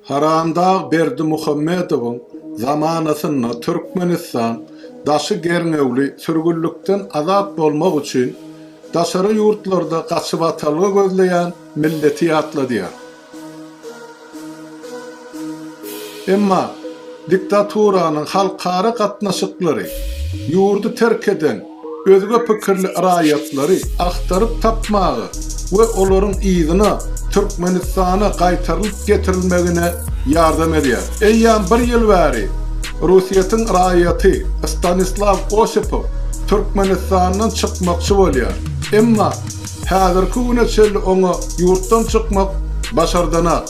Haramdag Berdimuhamedowyň zamanasynda Türkmenistan daşy gerňewli sürgünlikden azat bolmak üçin daşary ýurtlarda gaçybatalga gözleýän milleti ýatladýar. Emma diktaturanyň halkara gatnaşyklary, ýurdy terk eden, özge pikirli raýatlary agtaryp tapmaga we olaryň yzyna Türkmenistana gaýtarylyp getirilmegine ýardam edýär. Eýýäm bir ýyl bäri Orsýetiň raýaty Stanislaw Osipow Türkmenistandan çykmakçy bolýar, emma häzirki güne çenli oňa ýurtdan çykmak başardanok.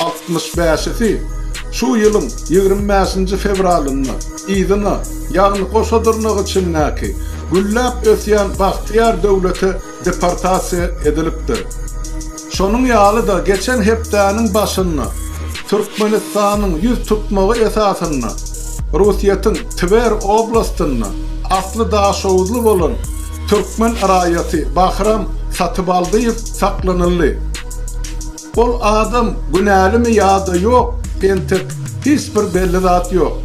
Altmyş bäşisi şu ýylyň ýigrimi bäşinji fewralynda yzyna, ýagny goşa dyrnak içindäki gülläp ösýän bagtyýar döwlete deportasiýa edilipdir. Şonuň ýaly-da geçen hepdäniň başynda Türkmenistanyň ýüz tutmagy esasynda Rusyýetiň Twer oblastynda asly daşoguzly bolan türkmen raýaty Bahram Satybaldyýew saklanyldy. Ol adam günälimi ýa-da ýok, entek hiç bir belli zat ýok.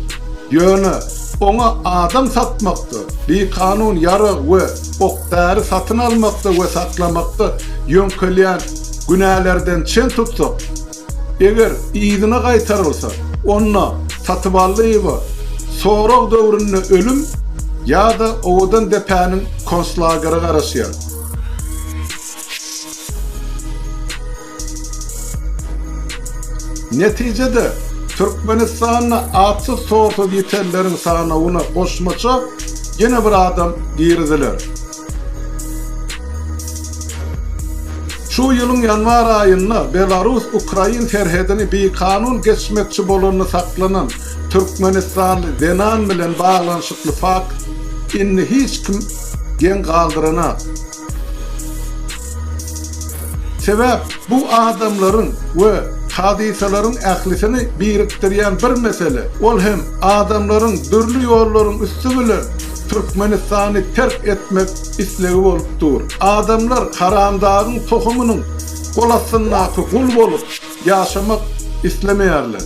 Ýöne oňa adam satmakda, bikanun ýarag we ok-däri satyn almakda we saklamakda ýöňkelýän günälerden çen tutsak, eger yzyna gaýtarylsa, onda Satyballyýewa sorag döwründe ölüm ýa-da owadan depäniň konslageri garaşýar. Netijede, Türkmenistanda atsyz-torsuz ýitenleriň sanawyna goşmaça ýene bir adam giriziler. Şu ýylyň ýanwar aýynda belarus-ukrain serhedini bikanun geçmekçi bolanda saklanan türkmenistanly zenan bilen baglanyşykly fakt indi hiç kim geň galdyranak. Sebäp bu adamlaryň we hadysalaryň ählisini birikdirýän bir mesele, ol hem adamlaryň dürli ýollaryň üsti bilen Türkmenistany terk etmek islegi bolup dur. Adamlar haramdagyň tohumynyň gol astyndaky gul bolup ýaşamak islemeýärler.